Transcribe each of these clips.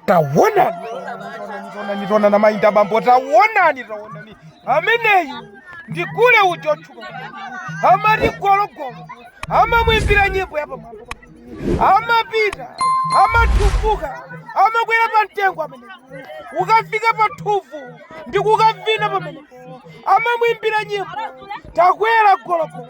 tawonani tawonani tawonani mayi ndabambo tawonani tawonani ameneyu ndi gule uja otchuka amati gologolo amamwimbira nyimbo yapamwamba amapita amathuvuka amakwera pa mtengo ameneyu akafika pa thumvu ndi kukavina pamenepo amamwimbira nyimbo takwera gologolo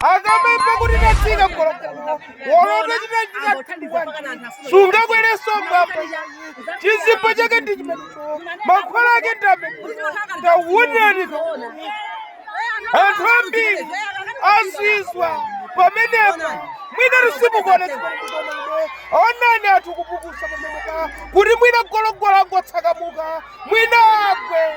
akamaimba kuti tatsika gologolo wolota chitachita sungakwerenso mbamba chizimba chake ndi chimenecho mankhwala ake ndi amenewo tawonani anthu ambiri azizwa pamenepo mwina tu simukuona zimakutomaino onani anthu kupukusa pamenepa kuti mwina gologolo angotsakamuka mwina agwe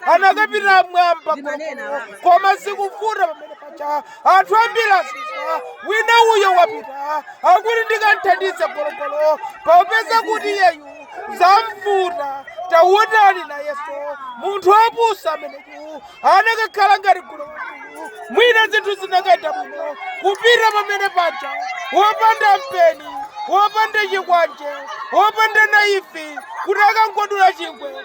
anakapita mmwamba gologolo koma zikuvuta pamene paja anthu ambiri azizwa wina uyo wapita akuti ndikamthandize gologolo popeza kuti iyeyu zamvuta tawonani nayenso munthu wapusa ameneyu anakakhala ngati gule mwina zinthu zinakaenda bwino kupita pamene paja wopanda mpeni wopanda chikwanje wopanda naifi kuti akangodula chingwe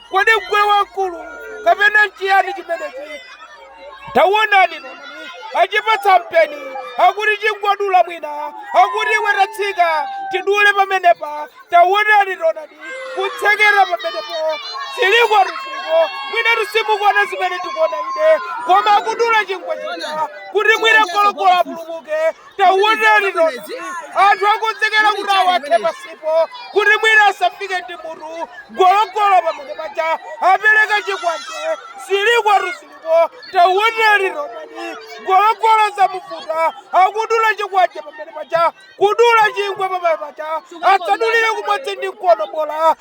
Kodi ngule wamkulu kapena nchiyani chimenechi? Tawonani onani achipatsa mpeni akuti chingodula mwina akuti iwe tatsika tidule pamenepa tawonani onani kutsetsereka pamenepo zilikotu ziliko mwina tu simukuona zimene tikuona ine koma akudula chingwe chija kuti mwina gologolo apulumuke tawonani onani anthu akonzekera kuti awakhe pansipo kuti mwina asafike ndi mutu gologolo pamene paja apereka chikwanje zilikotu ziliko tawonani onani gologolo zamuvuta akudula chikwanje pamene paja kudula chingwe pamene paja asadulire kumodzi ndi mkono bola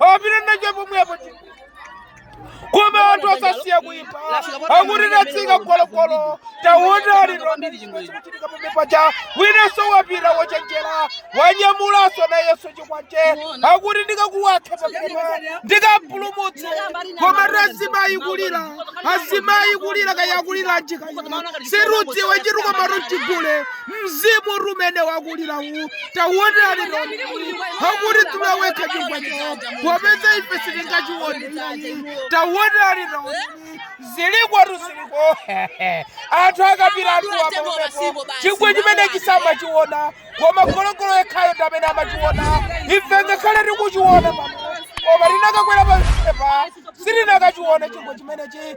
apite nacho pomwepo koma anthu asasiya kuimba akuti tatsika gologolo taonani zikuchitika pamene paja winanso wapita wochenjera wanyamulanso nayenso chikwanje akuti ndikakuwakhe pamwepo ndikampulumutse koma azimayi kulira azimayi kulira kaya akulira nchiyani sitidziwa chitu komatu chigule Mzimu tu umene wakulira uwu taonani onani akuti tula wekha chifukwa chawo popeza ife sitingachione iyayi taonani onani zilikotu ziliko anthu akapita anthuwa pamenepo chingwe chimene sitimachiona koma gologolo yekhayo ndi amene amachiona ife ngakhale tikuchiona pano koma tinakakwera pamenepa sitinakachiona chingwe chimenechi